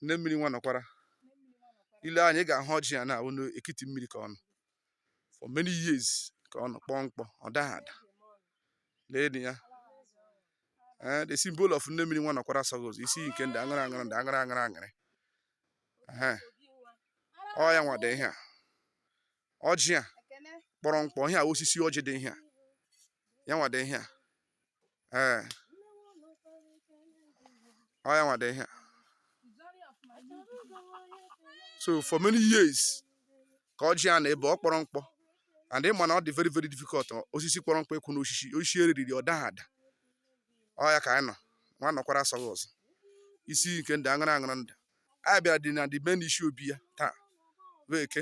nne mmiri nwa nọkwara i lee anya ị ga-ahụ ọjị a na-awụ n'ekiti mmiri ka ọ nọ for many years ka ọ nọ kpọọ mkpọ ọ daghị ada lee ya eh, the symbol of nne mmiri nwa nọkwara asọghị ụzọ isi nke ndụ aṅụrụ aṅụrụ ndụ aṅụrụ aṅụrụ aṅụrụ ọ ya nwa dị ihe a ọjị a kpọrọ mkpọ ihe a osisi ọjị dị ihe a ya nwa dị ihe a ee ọ ya nwa dị ihe so for many years ka ọjị a nọ ebe ọ kpọrọ mkpọ and ị ma na ọ dị very very difficult osisi kpọrọ mkpọ ikwu na osisi osisi eriri ọ daghị ada ọ ya ka anyị nọ nwa nọkwara asọghị ụzọ isi nke ndụ aṅụrụ aṅụrụ ndụ anyị bịara dị na the main isi obi ya taa wụ eke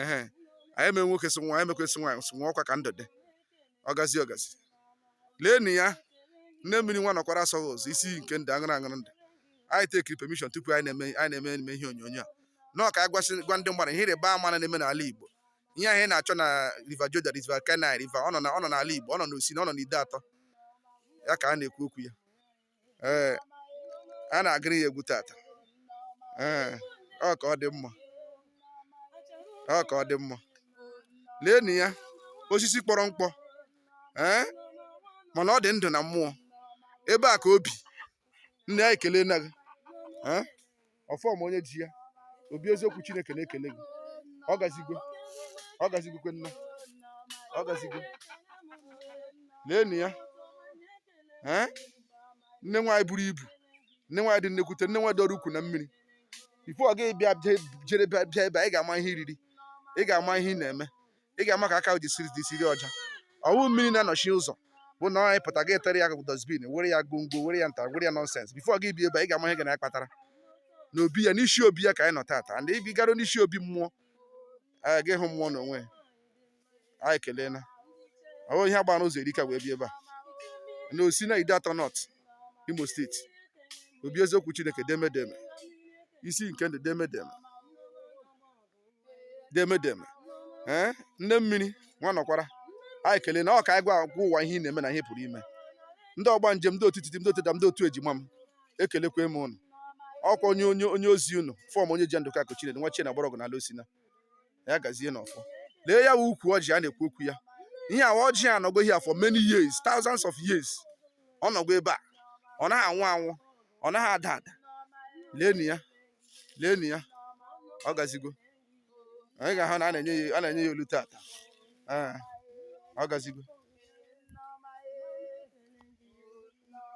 ehe anyị eme nwoke si nwa anyị mekwesị nwaanyị si nwa ọkwa ka ndụ dị ọ gazie ọ gazie leenụ ya nne mmiri nwa nọkwara asọghị ụzọ isi nke ndụ aṅụrụ aṅụrụ ndụ anyị tekiri permission tupu anyị na-eme anyị na-eme eme ihe onyonyo a nọọ ka anyị gwasị gwa ndị mmadụ ihe ịrịba ama na na-eme n'ala Igbo ihe anyị na-achọ na River Jordan River Kenai River ọ nọ na ọ nọ n'ala Igbo ọ nọ n'Osina ọ nọ n'Ideatọ ya ka a na-ekwu okwu ya ee a na-agụrụ ya egwu tata ee ọ ka ọ dị mma ọ ka ọ dị mma leenụ ya osisi kpọrọ mkpọ ee mana ọ dị ndụ na mmụọ ebe a ka o bi nne anyị ekelena gị ee ọfọm onye ji ya obi eziokwu chineke na-ekele gị ọ gazigo ọ gazigokwe nna ọ gazigo leenụ ya ee nne nwaanyị buru ibu nne nwaanyị dị nnekwute nne nwaanyị dọrọ ukwu na mmiri before ọ gaghị bịa bịa- jere bịa bịa ebe a, ị ga-ama ihe i riri ị ga-ama ihe ị na-eme ị ga-ama ka aka gị siri siri ọcha ọ wụ mmiri na-anọchi ụzọ bụ na anyị pụta gị etere ya dustbin were ya gongo were ya nta were ya nonsense before gị bi ebe ị ga-ama ihe ga na-akpatara na obi ya n'isi obi ya ka anyị nọ tata ndị ibi gara n'isi obi mmụọ anyị ga ịhụ mmụọ n'onwe anyị ekelena ọ wụ ihe agbara ụzọ erika wee bi ebe a na Osina Ideatọ North Imo State obi eziokwu chineke demedeme isi nke ndụ demedeme demedeme ee nne mmiri nwa nọkwara anyị ekelena o ka anyị gwa agwa ụwa ihe ị na-eme na ihe ị pụrụ ime ndị ọgbanje ndị otu titi ndị otu dam ndị otu ejima m ekelekwa m ụnụ ọkwa onye onye onye ozi ụnụ fọm onye ji ndụka kochire nwa chie na mgbọrọgwụ n'ala Osina ya gazie n'ọfọ lee ya wụ ukwu ọjị a na-ekwu okwu ya ihe a wụ ọjị a nọgo here for many years thousands of years ọ nọgo ebe a ọ naghị anwụ anwụ ọ naghị ada ada leenụ ya leenụ ya ọ gazigo anyị ga-ahụ na a na-enye ya olu taata Ee, ọ gazigo